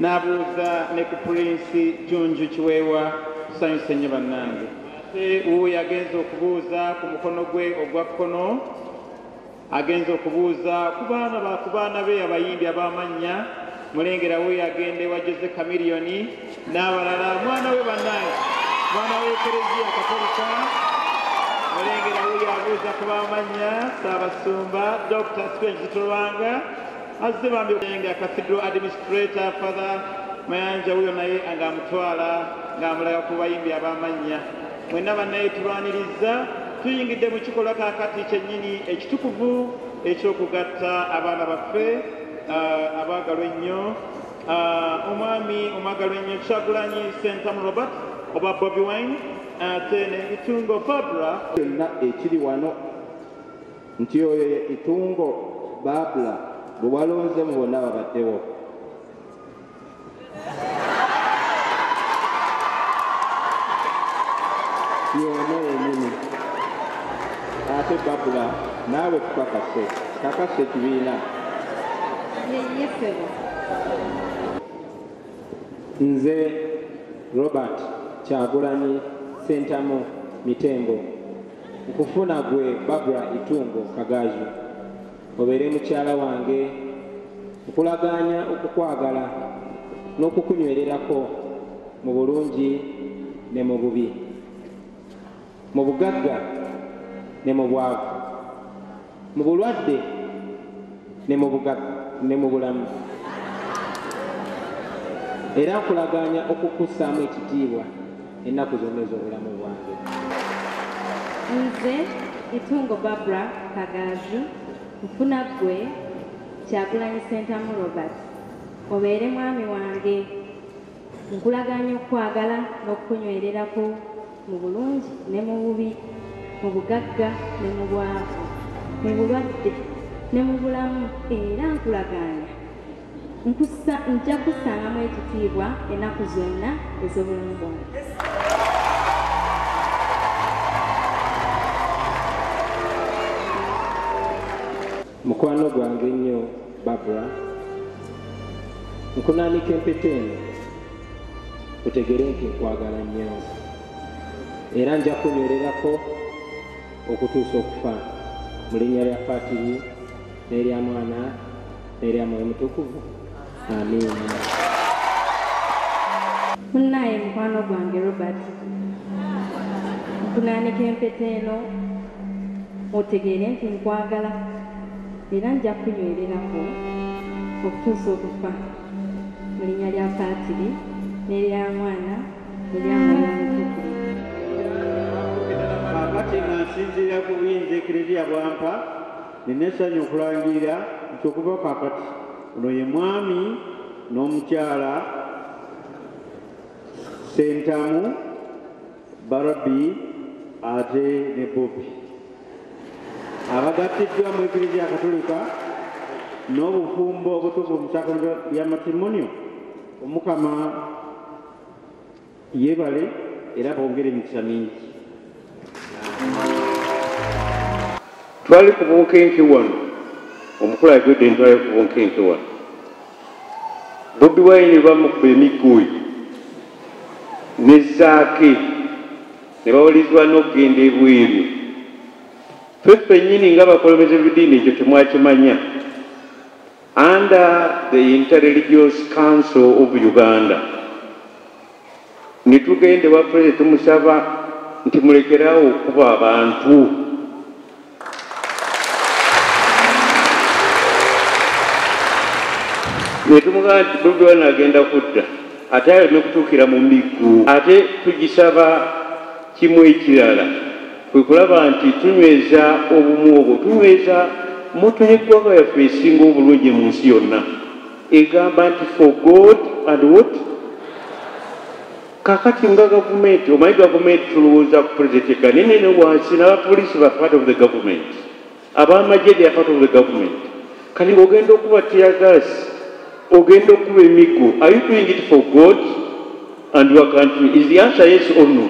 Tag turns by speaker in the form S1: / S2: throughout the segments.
S1: n'abuuza ne ku pulinsi junju kiweewa tusanyuse nnyo bannange ate wuwo yagenza okubuuza ku mukono gwe ogwa kkono agenza okubuuza ku baana ba ku baana be abayimbi ab'amannya mulengera we yagenda ewa jose kamiliyoni n'abalala mwana we bannange mwana w'ekereziya katolika mulengera we yabuuza ku b'amannya saabasumba dr spenzi tulwanga azze bambi nga cathedral administrator father mayanja wuyo naye nga amutwala ng'amulaga ku bayimbi ab'amannya mwenna bannaye tulwanirizza tuyingidde mu kikolwa kakati kyennyini ekitukuvu ekyokugatta abaana baffe uh, abaagalwa ennyo uh, omwami omwagalwa ennyo kyagulanyi sentamu robert oba bobi wine ate uh, nebitungo fabra kyonna ekiri
S2: wano nti oyo ye Itungo Babla gwe walonze mu bonna ababaddewo. Y'ono yennyini. Ate Babla naawe tukakase, kakasa ekibiina. Ye ye ssebo. Nze Robert Kyagulanyi Ssentamu Mitembo. Nkufuna gwe Barbra Itungo Kagaaju obeere mukyala wange. Nkulagaanya okukwagala n'okukunywererako mu bulungi ne mu bubi, mu bugagga ne mu bwavu. mu bulwadde ne mu bugagga ne mu bulamu era nkulagaanya okukussaamu ekitiibwa ennaku zonna ez'obulamu bwange
S3: nze itungo barbara kagaaju nfuna ggwe kyagulanyi sentamu robert obeere mwami wange nkulagaanya okukwagala n'okukunywererako mu bulungi ne mu bubi, mu bugagga ne mu bwavu, mu bulwadde ne mu bulamu, era nkulagaanya nkussa, nja kussangamu ekitiibwa ennaku zonna ez'obulamu bwange.
S2: Mukwano gwange ennyo Barbara, nkunaanika empeta eno otegere nti nkwagala nnyo era nja kunywererako okutuusa okufa mu linnya lya Patiri n'erya Mwana n'erya Mwoyo Mutukuvu.
S3: munnaaye mukwano gwange robert nkunaanika empeta eno otegeere nti nkwagala era nja kunywererako okutuusa okufa mu linnya lya paatiri n'erya mwana erya mwoyo mutukuvu
S1: kaakati nga nsinziira ku buyinza eklezia bwampa Nnina essanyu okulangirira nti okuva kaakati ono ye Mwami n'Omukyala Ssentamu, Barbie ate ne Bobi abagattiddwa mu Eklezia Katolika n'obufumbo obutukuvu mu Sacrament lya Matrimonio, Omukama Yebale era bongere emikisa mingi.
S4: Twali ku bunkenke wano, omukulu ayogedde nti twali ku bunkenke wano, Bobi Wine bamukuba emiggo oyo ne Zaake ne bawalirizibwa n'okugenda ebweru. Ffe ffennyini nga bakulembeze b'eddiini ekyo temwakimanya. Under the Interreligious Council of Uganda nitugende wa president tumusaba nti mulekerawo okuba abantu netumugamba nti bobi wine agenda kudda ate ayo nekutuukira mu miggu ate tugisaba Kimu ekirala kwe kulaba nti tunyweza obumu obwo, tunyweza moto y'eggwanga yaffe esinga obulungi mu nsi yonna egamba nti for God and what kakati nga gavumenti omanyi gavumenti tulowooza ku pulezidenti eka naye nene wansi n'abapoliisi ba part of the government abamagye they are part of the government kati ng'ogenda okuba teargas ogenda okuba emiggo are you doing it for god and your country is the answer yes or no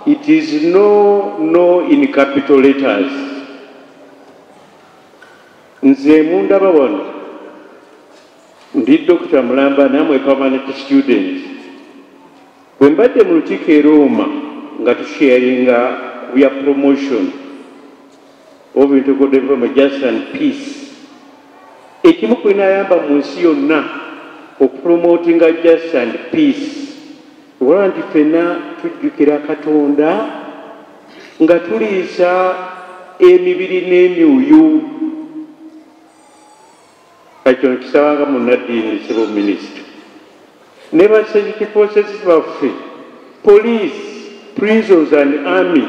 S4: it is no no in capital letters nze mundaba wano ndi dokita mulamba namwe permanent students Bwe mbadde mu lukiiko e Rooma nga tusheyaringa ku bya promotion of integral development justice and peace, ekimu ku binayamba mu nsi yonna okupromotinga justice and peace olaba nti ffenna tujjukira Katonda nga tuliisa emibiri n'emyoyo Kino kisaba nga munnaddiini sibu minisita ne ba security forces baffe police prisons and army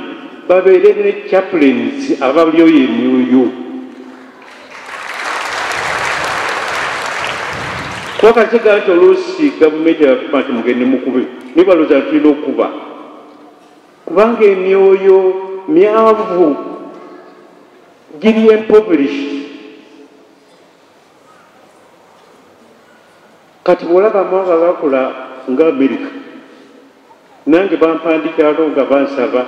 S4: babeere ne chaplains abalyoyo emyuyu twakakiga nti oluusi gavumenti yafuma nti mugende mukube naye balooza tulina okukuba kubanga emyoyo myavu giri empoverished kati bwolaba amawanga gakula nga amerika nange bampandikirako nga bansaba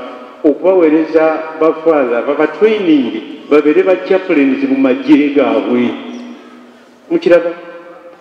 S4: okubawereza bafathe babatraining babeere ba chaplains mu magye gaabwe mukiraba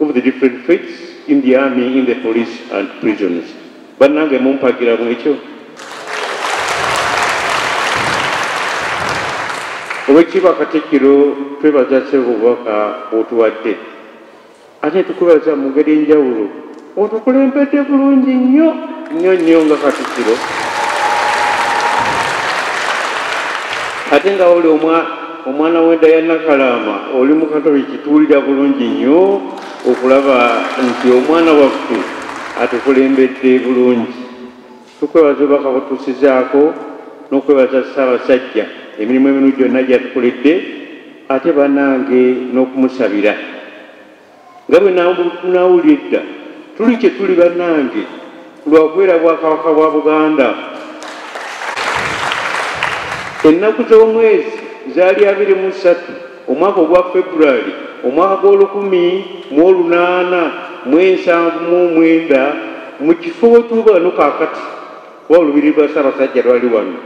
S4: of the different faiths in the army, in the police and prisons. Banange mumpagira mwekyo. Owekiba Katikiro twebaza sebo bwaka otuwadde. Ate tukubaza mu ngeri enjawulo Otukulembedde bulungi nnyo nnyo nnyo nga Katikiro ate nga oli omwana w'enda ya Nakalaama oli mu Katoliki tuwulira bulungi nnyo okulaba nti omwana waffe atukulembedde bulungi. Tukwebaza obubaka butuusizaako n'okwebaza Ssaabasajja emirimu eminu gyonna gyatukoledde ate banange n'okumusabira. nga bwe nawulira edda tuli kye tuli bannange lwakubeera bwakabaka bwa buganda ennaku z'omwezi zaali abiri mu ssatu omwaka ogwa february omwaka gw'olukumi mu olunaana mu ensanvu mu omwenda mu kifo wetuba no kakati kuba olubiri lwa ssaabasajja lwali wano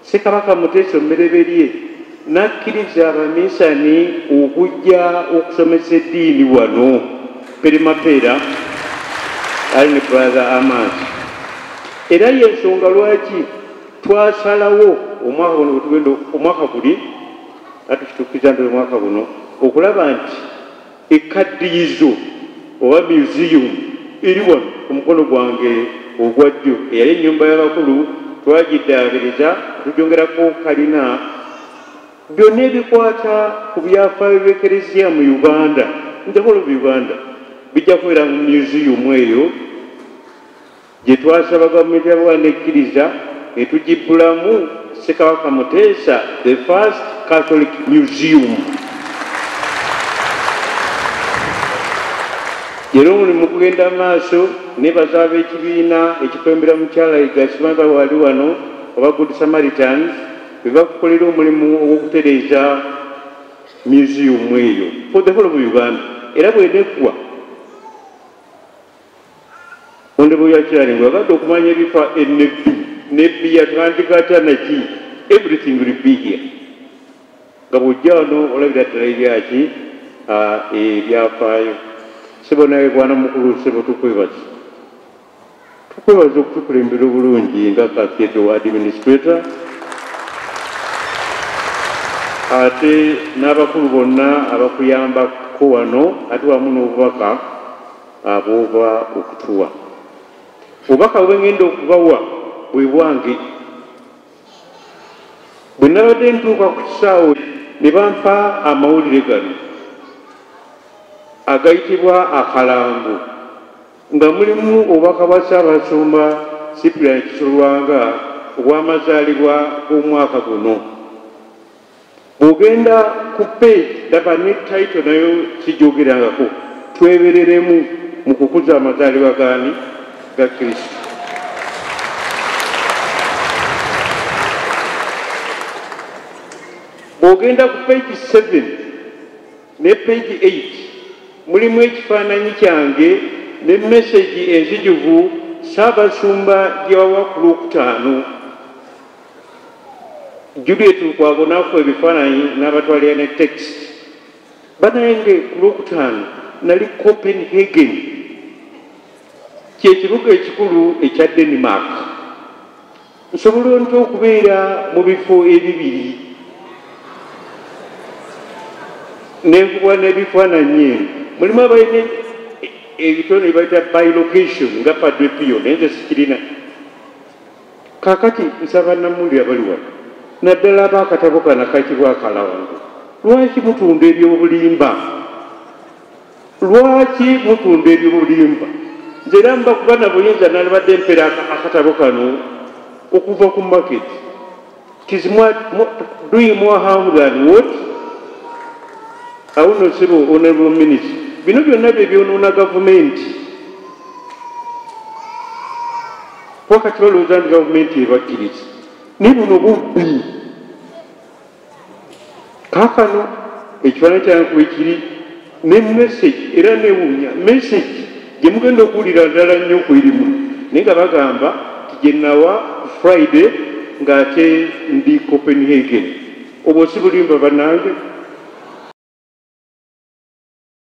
S4: Ssekabaka Muteesa omubereberye n'akkiriza abaminsani okujja okusomesa eddiini wano perimapeera ali ne brother Amaasi era y'ensonga lwaki twasalawo omwaka guno wetugenda omwaka guli atukitukiza nti omwaka guno okulaba nti Ekkaddiyizo oba myuziyumu eri wano ku mukono gwange ogwa ddyo. Eyali ennyumba y'abakulu twagiddaabiriza ne tugyongerako kalina. Byonna ebikwata ku byafaayo by'Eklezia mu Uganda, in the whole of Uganda, bijja kubeera mu myuziyumu eyo. gye twasaba Gavumenti ya Buganda n'ekkiriza ne tugibbulamu Ssekabaka Muteesa the first Catholic Museum. Leero omulimu gugenda maaso nebaza ab'ekibiina ekikwembera mukyala Igasima ba wali wano oba Good Samaritans be bakukolera omulimu ogw'okutereeza museum eyo for the whole of Uganda era bweneggwa Honorable Yacharing, wabadde okumanya ebifa enebbi nebbi yatandika atya naki everything will be here nga bwojja wano olabira ddala ebyaki ebyafaayo sebo naye bwana mukulu sebo tukwebaza tukwebaza okutukulembera obulungi nga kakedo administrator ate n'abakulu bonna abakuyambako wano ate wamu n'obubaka abooba okutuwa obubaka bwe ngenda okubawa bwe bwange bwe nabadde ntuuka ku kisaawe ne bampa amawulire gano agayitibwa akalango nga mulimu obubaka bwa ssaabasumba sipulani kisolwanga obw'amazaalibwa g'omwaka guno Bwogenda ku page daba ne title nayo sijogerangako twebereremu mu kukuza amazalibwa gani ga Kristo. Bwogenda ku page 7 ne page 8 mulimu ekifaananyi kyange ne message enzijuvu Ssaabasumba gyewawa ku lwokutaano. Juliet Lukwago n'akuba ebifaananyi n'abatwalira ne tekisi. Bannange ku Lwokutaano nali Copenhagen, kye kibuga ekikulu ekya Denmark. Nsobola ntya okubeera mu bifo ebibiri ne nkubwa n'ebifaananyi? Eno mulimu abalina ebitone bye bayita bi-location nga Padre Pio, naye nze sikirina. Kakati nsaba namuli abali wano naddala aba akatabo kana kayitibwa akalawango lwaki mutunda ebyobulimba lwaki mutunda ebyobulimba nze era mbakuba nabuyinza nalibadde mpera akatabo kano okuva ku maketi It is more, more, doing more harm than what? Our honorable, honorable minister. Bino byonna bye byonoona gavumenti. Wakati balowooza nti gavumenti ebakkiriza. Naye buno bubbi. kakano ekifaananyi kyange kwekiri ne message era newunya message gyemugenda okuwulira ddala nnyo kwerimu naye nga bagamba nti gyenawa ku friday ng'ate ndi copenhagen obwo si bulimba banange